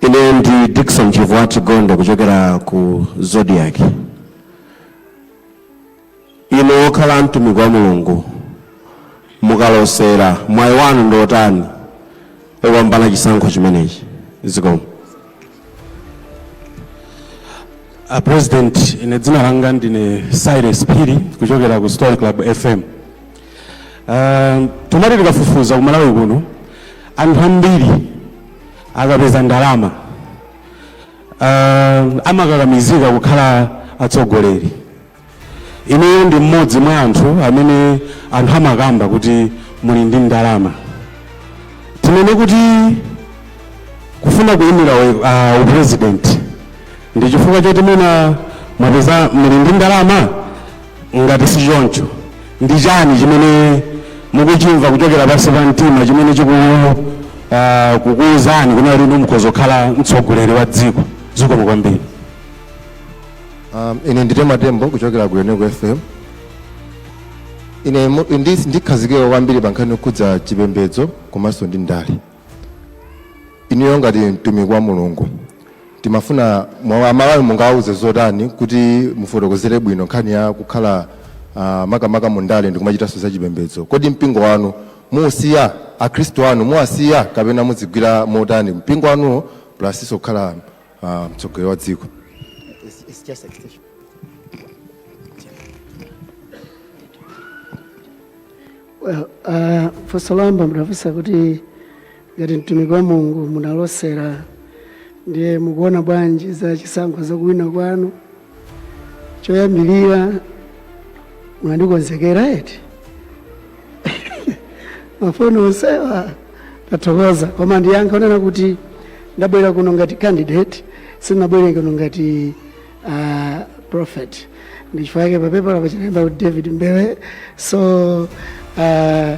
ine ndi dickson chivwati gondo kuchokera ku zodiac inu wokhala mtumiki wa mulungu mukalosera mwayi wanu ndi otani wopambana chisankho chimenechi zikomo a president ine dzina langa ndine cyrus phiri kuchokera ku story club fm uh, tumati tikafufuza ku malawi kuno anthu ambiri akapeza ndalama uh, amakakamizika kukhala atsogoleri Inuyo ndi mmodzi mwa anthu amene anthu amakamba kuti muli ndi ndalama. Tinene kuti kufuna kuyimira uh, upresident ndi chifukwa choti mwina mwapeza muli ndi ndalama? Ngati si choncho, ndi chani chimene mukuchimva kuchokera pansi pa mtima chimene chiku uh, kukuwuzani kunena kuti inu mukhoza kukhala mtsogoleri wa dziko? Zikomo kwambiri. Um, ine ndine matembo kuchokera ku Enugu FM. Ine mu- ndi- ndikhazikika kwambiri pa nkhani yokhudza chipembedzo komanso ndi ndale. Inuyo ngati mtumiki wa Mulungu timafuna aMalawi mungawuze zotani kuti mufotokozere bwino nkhani ya kukhala uh, makamaka mu ndale ndi kumachitanso za chipembedzo. Kodi mpingo wanu muusiya Akhristu anu muwasiya kapena muzigwira motani mpingo wanuwo plus kukhala uh, mtsogoleri wa dziko It's, it's just extension. Well, uh, funso loyamba munafunsa kuti ngati mtumiki wa mulungu munalosera ndiye mukuona bwanji za chisankho zakuwina kwanu choyambirira munandikonzekera eti mafunso onsewa tathokoza koma ndiyankha ponena kuti ndabwera kuno ngati candidate sindinabwere kuno ngati uh, prophet ndichifukwa chake papepala pachita kulemba kuti david mbewe so uh,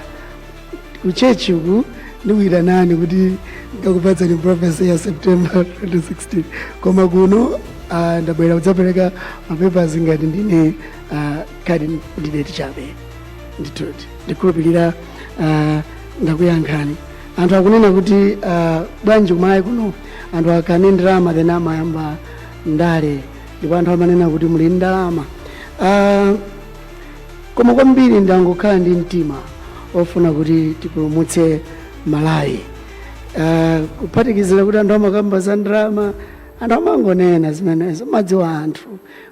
kuchechi uku ndikuyitanani kuti ndikakupatseni prophecy ya september 2016 koma kuno ah, ndabwera kudzapereka mapepers ngati ndine ah, candidate chabe nditero ndikhulupirira ah, ndakuyankhani anthu akunena kuti ah, bwanji ku malawi kuno anthu akakhala ndi ndalama then amayamba ndale ndipo anthu amanena kuti muli ndi ndalama Ah, Koma kwambiri ndangokhala ndi mtima ofuna kuti tipulumutse Malawi. Uh, kuphatikizira kuti anthu amakamba za ndalama, anthu amangonena zimenezo, mumadziwa anthu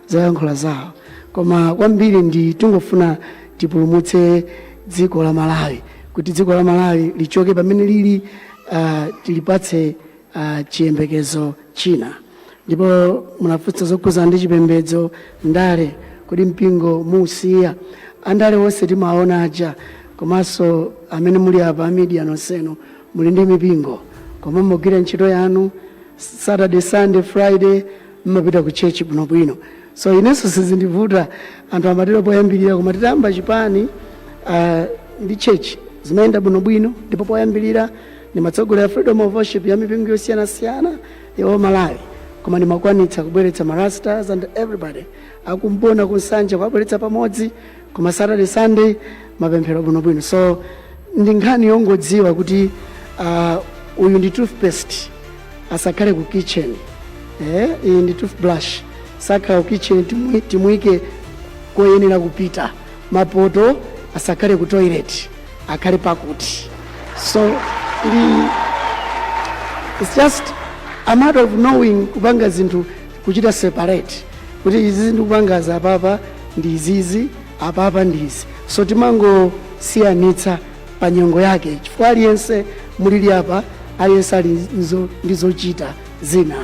zoyankhula zawo, koma kwambiri ndi tingofuna tipulumutse dziko la Malawi, kuti dziko la Malawi lichoke pamene lili, uh, tilipatse uh, chiyembekezo china ndipo munafunsa zokhudzana ndi chipembedzo ndale kodi mpingo muusiya andale onse timaona aja komanso amene muli apa media nonsenu muli ndi mipingo koma mumagwira ntchito yanu saturday sunday friday mumapita ku church bwinobwino so inenso sizindivuta anthu amatero poyambirira koma titayamba chipani uh, ndi church zimayenda bwinobwino ndipo poyambirira Ndimatsogolera Freedom of Worship ya mipingo yosiyanasiyana ya Malawi, koma ndimakwanitsa kubweretsa ma Rastas and everybody a kwa Mbona ku Nsanje kuwabweretsa pamodzi koma Saturday Sunday mapemphero bwinobwino. So ndi nkhani yongodziwa kuti ah, uyu ndi toothpaste asakhale ku kitchen eh, iyi ndi toothbrush sakhala ku kitchen timui- timuyike koyenera kupita mapoto asakhale ku toilet akhale pakuti so it's just a matter of knowing kupanga zinthu kuchita separate kuti izizi ndikupanga za apapa ndi izizi apapa ndi izi so timangosiyanitsa pa nyengo yake chifukwa aliyense mulili apa aliyense ali nzo- ndi zochita zina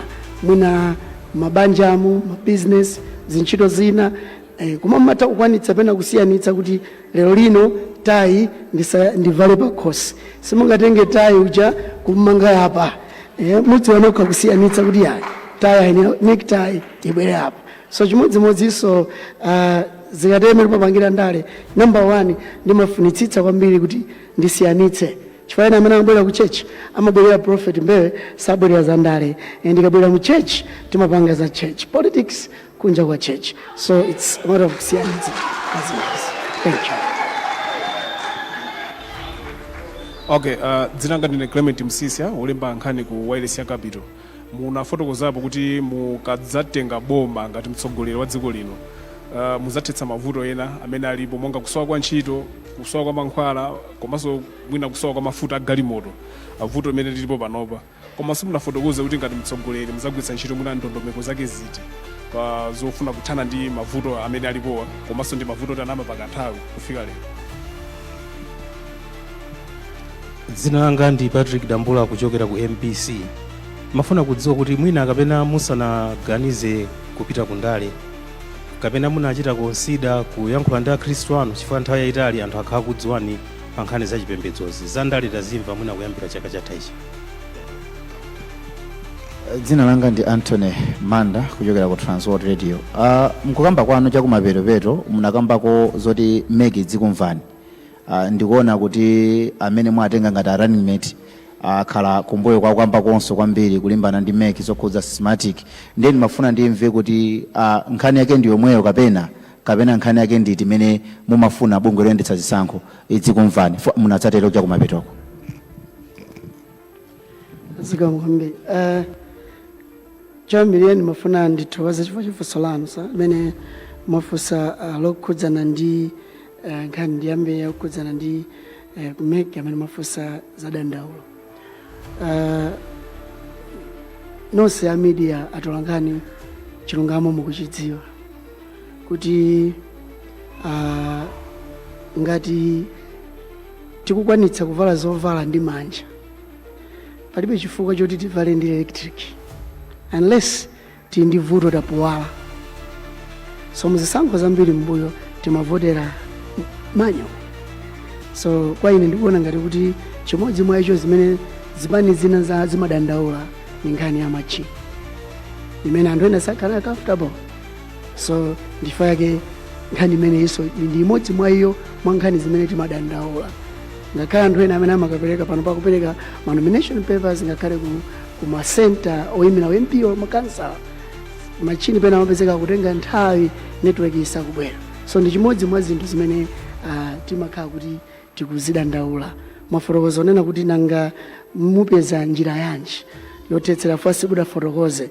mwina mabanjamu mabizinesi zintchito zina Eh, koma mumatha kukwanitsa pena kusiyanitsa kuti lero lino tayi ndisa- ndivale pakhosi simungatenge tayi uja kumanga apa eh, mudziwa nokha kusiyanitsa kuti yayi tayi ayenera necktie ibwere apa so chimodzimodzinso ah, zikatengera popangira ndale number one ndimafunitsitsa kwambiri kuti ndisiyanitse chifukwa ena amene amabwera ku church amabwerera prophet mbewe sabwerera za ndale Eh, ndikabwera mu church timapanga za church politics kunja kwa church so it's a matter of kusiyanitsa zimenezi thank you okay uh, dzina langa ndine clement msisya wolembako nkhani ku wireless ya capital munafotokozapo kuti mukadzatenga boma ngati mtsogoleri wa dziko lino uh, muzathetsa mavuto ena amene alipo monga kusowa kwa ntchito kusowa kwa mankhwala komanso mwina kusowa kwa mafuta a galimoto uh, vuto limene lilipo panopa Komanso simunafotokoze kuti ngati mtsogoleri muzagwiritsa ntchito mwina ndondomeko zake ziti pa zofuna kuthana ndi mavuto amene alipowa komanso ndi mavuto tanama pakanthawi kufika lero. Dzina langa ndi Patrick Dambula kuchokera ku MBC. Mafuna kudziwa kuti mwina kapena musanaganize kupita ku ndale kapena munachita konsida kuyankhula ndi akhristu anu chifukwa nthawi yayitali anthu akhala kudziwani pa nkhani za chipembedzozi za ndale tazimva mwina kuyambira chaka chatha ichi. dzina langa ndi anthony manda kuchokera ku transworld radio uh, mkukamba kwanu chakumapetopeto munakambako zoti MEC idzikumvani uh, ndikuona kuti amene mwatenga ngati a running mate akhala uh, kumbuyo kwa kukambakonso kwambiri kulimbana ndi MEC zokhudza Smartmatic ndiye ndimafuna ndimve kuti uh, nkhani yake ndi yomweyo kapena kapena nkhani yake ndi iti imene mumafuna bungwe loyendetsa zisankho idzikumvani chifukwa munadzatero chakumapetoko zikomo kwambiri uh, choyambirira ndimafuna ndithokoze chifukwa cha funso lanu sir amene mwafunsa uh, lokhudzana ndi uh, nkhani ndiyambe yokhudzana ndi uh, ku MEC amene mwafunsa za dandaulo uh, nonse a media atolankhani chilungamo mukuchidziwa kuti uh, ngati tikukwanitsa kuvala zovala ndi manja palibe chifukwa choti tivale ndi electric unless tili ndi vuto tapuwala so muzisankho zambiri mbuyo timavotera manual so kwa ine ndikuona ngati kuti chimodzi mwa icho zimene zipani zina za zimadandaula ni nkhani ya machini imene anthu ena sakhala comfortable so nchifukwa chake nkhani imeneyinso ndi imodzi mwa iyo mwa nkhani zimene timadandaula ngakhale anthu ena amene amakapereka pano pakupereka ma nomination papers ngakhale ku, ku ma center oyimira ma MP or makansala machini pena amapezeka kutenga nthawi network isakubwera so ndi chimodzi mwa zinthu zimene ah, timakhala kuti tikuzidandaula mwafotokoza onena kuti nanga mupeza njira yanji yothetsera first ndifotokoze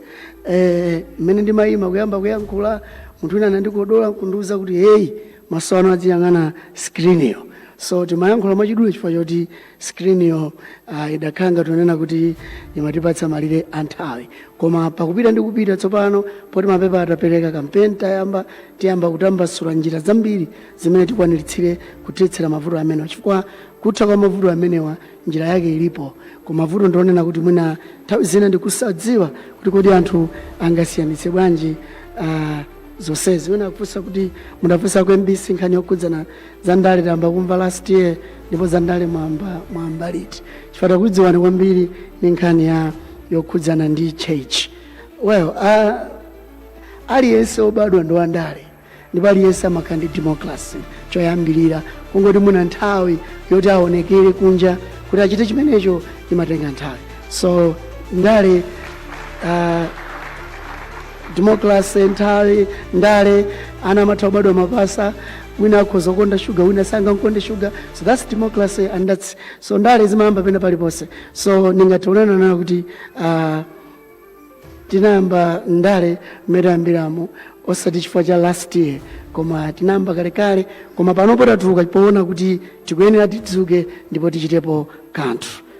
Eh, mmene ndimayima kuyamba kuyankhula munthu wina anandikodola kundiuza kuti heyi maso anu adziyang'ana screen-yo so timayankhula mwachidule chifukwa choti screen-yo uh, idakhala ngati kunena kuti imatipatsa malire a nthawi koma pakupita ndi kupita tsopano poti mapepa tapereka kampeni tayamba tiyamba kutambasula njira zambiri zimene tikwaniritsire kuthetsera mavuto amenewa chifukwa kutha kwa mavuto amenewa njira yake ilipo koma vuto ndi lonena kuti mwina nthawi zina ndikusadziwa kuti kodi anthu angasiyanitse bwanji uh, zonsezi wina akufunsa kuti munafunsa ku mbc nkhani yokhudzana za ndale tayamba kumva last year ndipo za ndale mwayamba liti chifukwa takudziwani kwambiri ni nkhani yokhudzana ndi church well uh, aliyense obadwa ndi wandale ndipo aliyense amakhala ndi democracy choyambirira kungoti muna nthawi yoti aonekere kunja kuti achite chimenecho imatenga nthawi so ndale uh, democracy nthawi ndale ana amatha kubadwa mapasa wina akhoza kukonda shuga wina osangamkonda shuga so that's democracy and that's so ndale zimayamba pena paliponse so ndingationana nayo kuti uh, tinayamba ndale mmene tayambiramo osati chifukwa cha last year koma tinayamba kalekale koma panopo tatuluka poona kuti tikuyenera tidzuke ndipo tichitepo kanthu